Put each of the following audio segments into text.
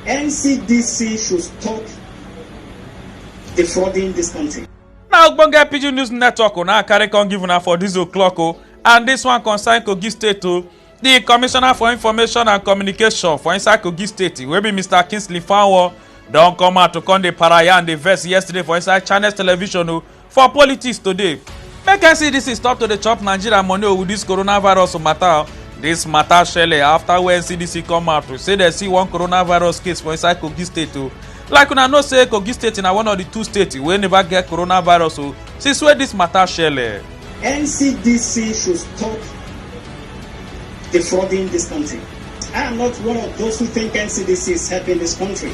NCDC should stop defrauding this country. na ogbonge pidgin news network una carry come give una for dis o'clock o and dis one concern kogi state o di commissioner for information and communication for inside kogi state wey be mr kingsley fanwo don come out to come dey paraya and dey vex yesterday for inside channels television o For politics today, make NCDC stop to dey chop Nigeria money with this coronavirus matter. This matter shele after wey NCDC come out to say dem see one coronavirus case for inside Kogi state o. Like una know say Kogi state na one of the two states wey never get coronavirus o since wey this matter shele. NCDC should stop defrauding this country. I am not one of those who think NCDC is helping this country.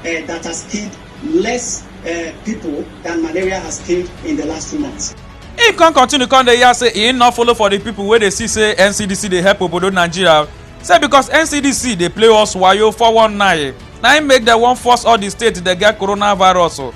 uh, that has killed less uh, people than malaria has killed in the last two months. He come continue come dey yarn say he no follow for the people wey dey see say NCDC dey help obodo Nigeria say because NCDC dey play us wayo 419 na im make dem wan force all the states dey get coronavirus o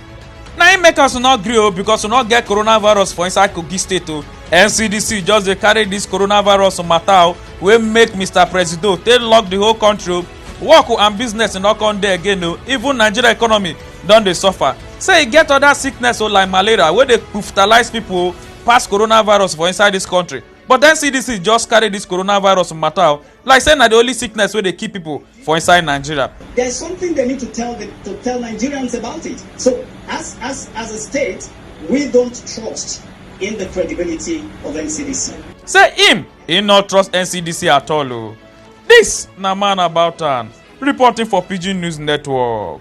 na im make us no gree o because we no get coronavirus for inside Kogi state o NCDC just dey carry this coronavirus matter o wey make Mr. Presido take lock the whole country o work and business no come dey again o even nigeria economy don dey suffer say e get other sickness o like malaria wey dey kufutalize pipo o pass coronavirus for inside dis country but then cdc just carry dis coronavirus matter o like say na di only sickness wey dey kill pipo for inside nigeria. there's something they need to tell the, to tell Nigerians about it. So as as as a state, we don't trust in the credibility of NCDC. say im e no trust ncdc at all o. This na man about am reporting for Pidgin News Network.